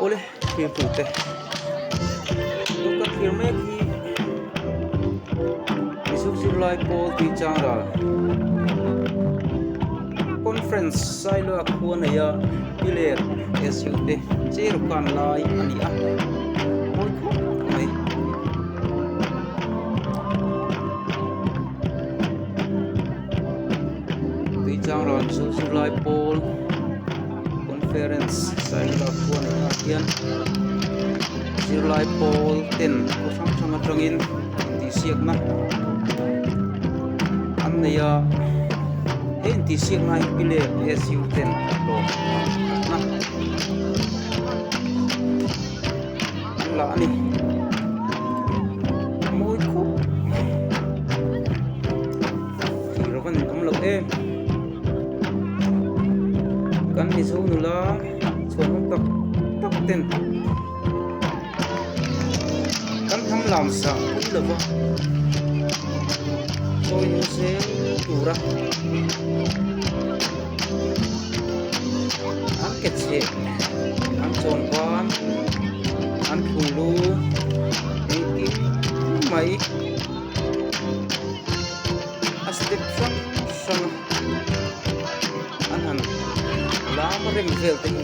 Awle thir tur te tuk ka thlir mek hi Isuk zirlai Paul tui changrâl conference sailo a khua nei a piler SU te che ru khan lai a ni a mawi khawp mai tui chang ran chu zirlai pawl conference hian zirlai pawl ten aw hrang hrang atangin intihsiakna an nei a he intihsiakna hi pi lep SU ten tlawhna. bulah a ni a mawi khawp tih rawh ka ni awm lo em kan mizo nula chhuah nawm tak tak ten kan tham lam sa pui lova chawi nu se tura An ke chhe an chawn van an thu lu engtin mai a step hrang hrang a an han lam rem vel te hi.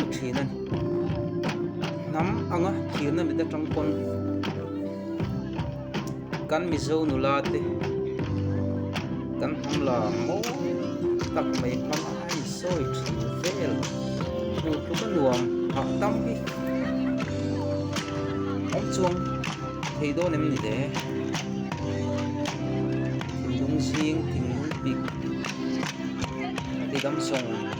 a thin a ni hnam anga thirna mit atang pawn kan mizo nula te kan hmanla mawi tak mai hmang a in sawi thin vel hmuh tluk a nuam hah tam hi awm chuang thei dawn em ni le thinlung zing thinlung pik ati damsawng.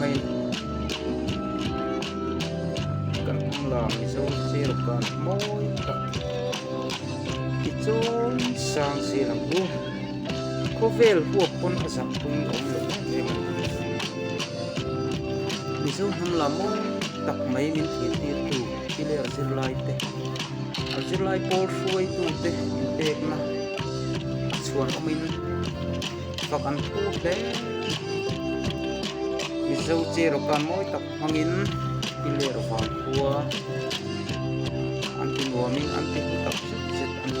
mai kan hmang la mizo che rawk kan mawi tak tichuan sang si lam u khawvel huap pawn a zam pui a awm leh em em ani mizo hnam la mawi tak mai min thir tir tu i ler zir lai te a zirlai pawl hruai tute in pek na a chhuan awm in. vak an thu hle mizo che rawka mawi tak hmangin ti leh rawh vang khua an ti nuamin an ti hmu tak zet zet a ni.